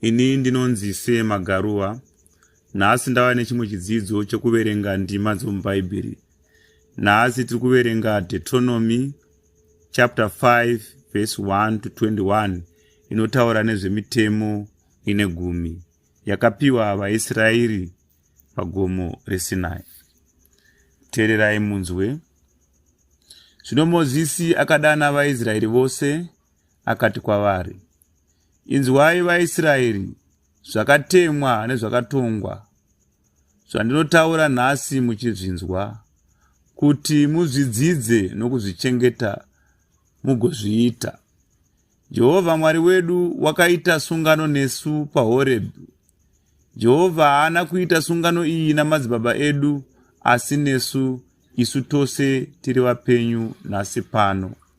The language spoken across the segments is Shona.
Ini ndinonzi Sir Magaruwa. Nhasi ndava nechimwe chidzidzo chekuverenga ndima dzomubhaibheri. Nhasi tiri kuverenga Deuteronomy chapter 5 verse 1 to 21 inotaura nezvemitemo ine gumi yakapiwa vaIsraeri pagomo reSinai. Teererai munzwe. Zvino Mozisi akadana vaIsraeri vose akati kwavari, Inzwai vaIsraeri zvakatemwa nezvakatongwa zvandinotaura nhasi muchizvinzwa, kuti muzvidzidze nokuzvichengeta mugozviita. Jehovha Mwari wedu wakaita sungano nesu paHorebhi. Jehovha haana kuita sungano iyi namadzibaba edu, asi nesu isu tose tiri vapenyu nhasi pano.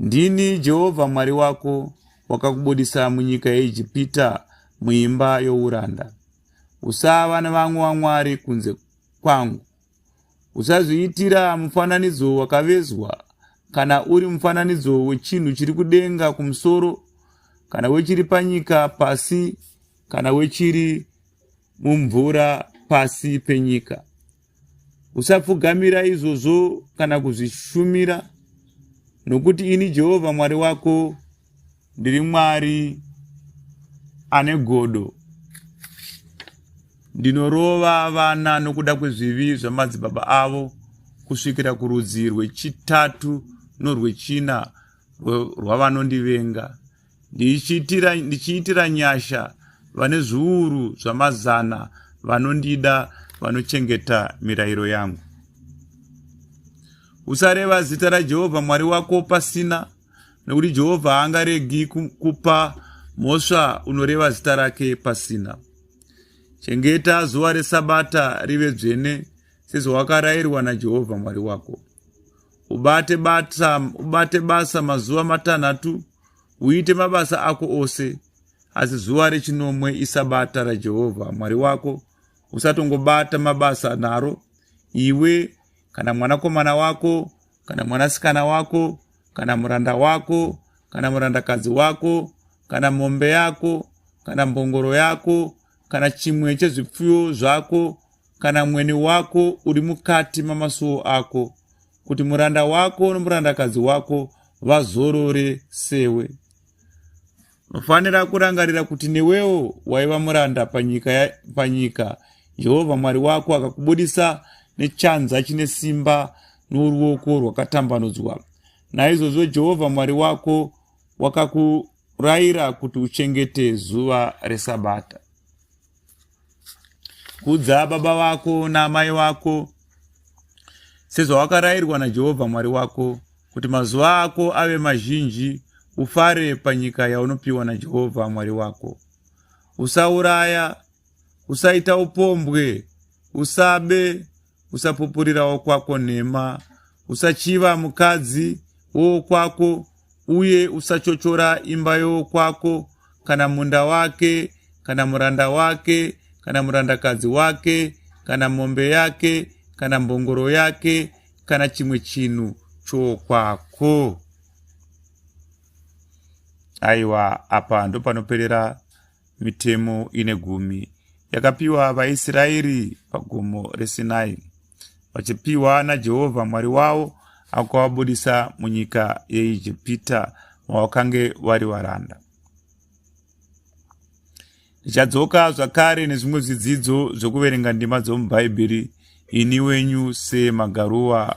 Ndini Jehovha Mwari wako wakakubudisa munyika yeIjipita muimba youranda. Usava nevamwe wamwari kunze kwangu. Usazviitira mufananidzo wakavezwa kana uri mufananidzo wechinhu chiri kudenga kumusoro kana wechiri panyika pasi kana wechiri mumvura pasi penyika. Usapfugamira izvozvo kana kuzvishumira, nokuti ini Jehovha Mwari wako ndiri Mwari ane godo. Ndinorova vana nokuda kwezvivi zvamadzibaba avo kusvikira kurudzi rwechitatu norwechina rwavanondivenga. ndichiitira, ndichiitira nyasha vane zviuru zvamazana vanondida vanochengeta mirayiro yangu usareva zita rajehovha mwari wako pasina nekuti jehovha haangaregi kupa mhosva unoreva zita rake pasina chengeta zuva resabata rive dzvene sezvawakarayirwa najehovha mwari wako ubate basa mazuva matanhatu uite mabasa ako ose asi zuva rechinomwe isabata rajehovha mwari wako usatongobata mabasa naro iwe kana mwanakomana wako kana mwanasikana wako kana muranda wako kana murandakadzi wako kana mombe yako kana mbongoro yako kana chimwe chezvipfuyo zvako kana mwene wako uri mukati mamasuo ako kuti muranda wako nomurandakadzi wako vazorore sewe unofanira kurangarira kuti newewo waiva muranda panyika panyika jehovha mwari wako akakubudisa nechanza chine simba noruoko rwakatambanudzwa naizvozvo jehovha mwari wako wakakurayira kuti uchengete zuva resabata Kudza baba vako naamai vako sezvawakarayirwa naJehovha Mwari wako, kuti mazuva ako ave mazhinji, ufare panyika yaunopiwa naJehovha Mwari wako. Usauraya, usaita upombwe, usabe, usapupurira wokwako nhema usachiva mukadzi wowokwako uye usachochora imba yowokwako kana munda wake kana muranda wake kana murandakadzi wake kana mombe yake kana mbongoro yake kana chimwe chinhu chokwako aiwa apa ndopanoperera Mitemo ine gumi yakapiwa vaIsraeri pagomo reSinai, vachipiwa naJehovha Mwari wavo akavabudisa munyika yeIjipita mavakange vari varanda. Ndichadzoka zvakare nezvimwe zvidzidzo zvokuverenga ndima dzomubhaibheri ini wenyu semagaruwa